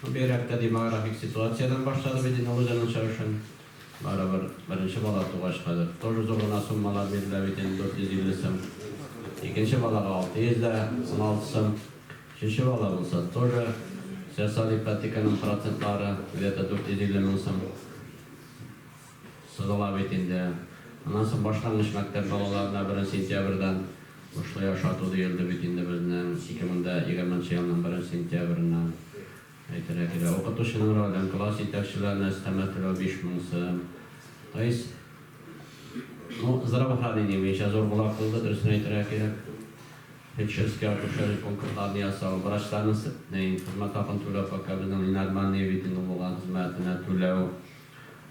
Бу бигрәктә демографик ситуациядән башлады бит инде Лузяның чыгышын. Барыбер беренче бала тугач хәзер тоже зур гына суммалар бирелә бит инде, 450 сым. Икенче балага 600 дә 16 сым. Өченче бала булса тоже социаль ипотеканың процентлары, где-то 450 мең сум. Сызыла бит инде. Аннан соң башлангыч мәктәп балаларына беренче сентябрьдән бушлай ашату диелде бит инде безнең, 2020 нчы елның беренче сентябреннән. Әйтергә кирәк, укытучының ролен, класс җитәкчеләренә өстәмә түләү 5 мең сым. То есть, ну, здравоохранение буенча зур кулак булды, дөресен әйтергә кирәк. Фельдшерский, акушерский пунктларны ясау, врачларның хезмәт хакын түләү пока безнең ненормальные бит инде булган хезмәтенә түләү.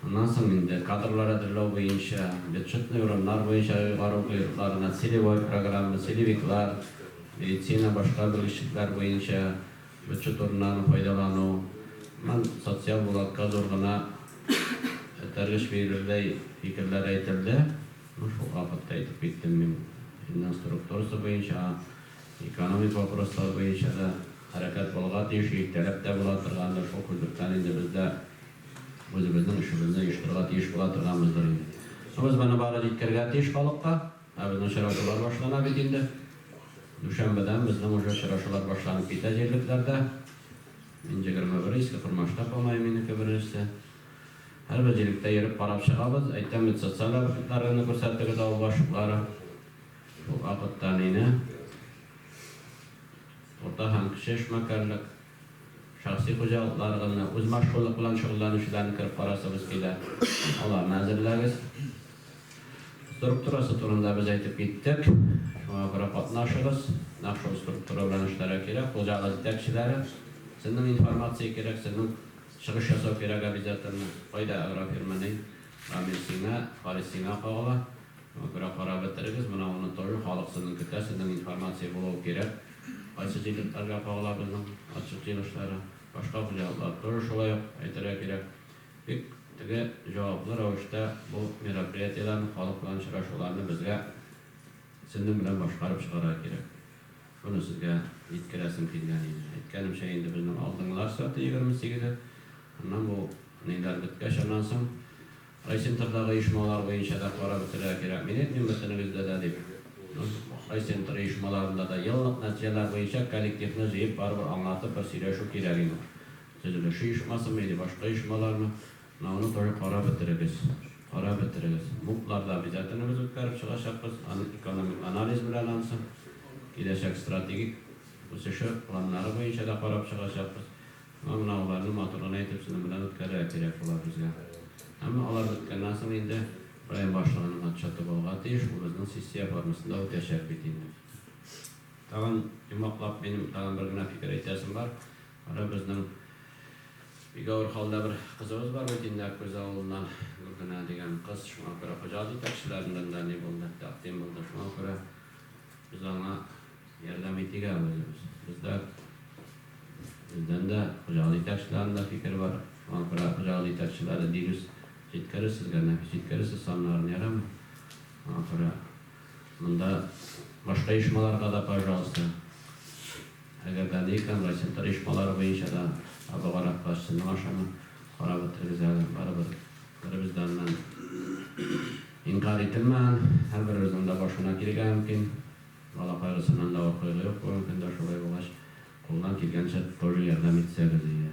Аннан соң инде кадрлар әзерләү буенча, бюджетный урыннар буенча оегару койрыкларына целевой программа, целевиклар, медицина, башка белгечлекләр буенча бюджет урыннарын файдалану, һәм социаль булатка зур гына этәргеч бирердәй фикерләр әйтелде. Ну, шул вакытта әйтеп киттем мин. Финанс структурасы буенча, экономик вопрослар буенча да хәрәкәт булырга тиеш, иртәрәк тә була торгандыр, шул күзлектән инде без дә Үзебезнең эшебезне оештырырга тиеш була торганбыздыр инде. Ә без моны бары җиткерергә тиеш халыкка. Ә безнең очрашулар башлана бит инде. Дүшәмбедән безнең уже очрашулар башланып китә җирлекләрдә. Мин җегерме бер Иске Кормашта калмаем, минеке беренчесе. Һәрбер җирлеккә йөреп карап чыгабыз. Әйтәм бит, социаль объектлар районы күрсәтегез, авыл башлыклары. Шул вакытта әнине, Урта һәм Кече Эшмәкәрлек. Шәхси хуҗалыкларыгызны үзмашкуллык белән шөгыльләнүчеләрне кереп карасыгыз килә, аларны әзерләгез. Структурасы турында без әйтеп киттек, шуңа күрә катнашыгыз, нәкъ шул структура белән эшләргә кирәк. Хуҗалык җитәкчеләре, сезнең информация кирәк, сезнең чыгыш ясау кирәк обязательно. Кайда агрофирма ни? Рамил сиңа, Харис сиңа кагыла. Берәү карап бетерегез, менә уны тоже халык сезнең көтә, сезнең информация булуы кирәк, кайсы җирлекләргә кагыла безнең отчет җыелышлары, башка хуҗалыклар тоже шулай ук әйтергә кирәк. Бик теге җаваплы рәвештә бу мероприятиеләрне, халык белән очрашуларны безгә сезнең белән башкарып чыгарга кирәк. Шуны сезгә җиткерәсем килгән иде. Әйткәнемчә, инде безнең алдынгылар сәгате егерме сигезе, аннан бу ниләр беткәч, аннан соң, Райцентрдагы оешмалар буенча да карап үтәргә кирәк, мин әйтмим бөтенегездә дә дип. Райцентр оешмаларында да еллык нәтиҗәләр буенча коллективны җыеп барыбер аңлатып бер сөйләшү кирәк инде. Төзелеше оешмасымы или башка оешмалармы, аны тоже карап бетерегез. Карап бетерегез. Муп-лар да обязательно без үткәреп чыгачакбыз, аның экономик анализ белән анысы, киләчәк стратегик үсеше планнары буенча да карап чыгачакбыз. Менә аларны матур гына итеп сезнең белән үткәрергә кирәк була безгә. Әмма алар беткәннән соң инде район башлыгының отчеты булырга тиеш, ул безнең сессия формасында үтәчәк бит инде. Тагын йомгаклап, минем тагын бер генә фикер әйтәсем бар. Кара, безнең бик авыр хәлдә бер кызыбыз бар бит инде, Аккүз авылыннан Гөлгенә дигән кыз. Шуңа күрә хуҗалык җитәкчеләреннән дә ни булды, тәкъдим булды. Шуңа күрә без аңа Ярдәм итегә әвереләбез. Бездә бездән дә, хуҗалык җитәкчеләренең дә фикере бар. Шуңа күрә хуҗалык җитәкчеләре дирүс җиткерер сезгә, нәфис җиткерер сез саннарын, ярыймы? Шуңа күрә монда башка оешмаларга да, пожалуйста, әгәр дә ни икән, райцентр оешмалары буенча да табыгарак та, сезнең ашамы карап үтерегез әле. Барыбер беребездән нән инкарь ителмәгән, һәрберебезнең дә башына килергә мөмкин. Бала кайгысыннан да авыр кайгы юк, бүгенге көндә шулай булгач, кулдан килгәнчә, тулы ярдәм итсәгез иде.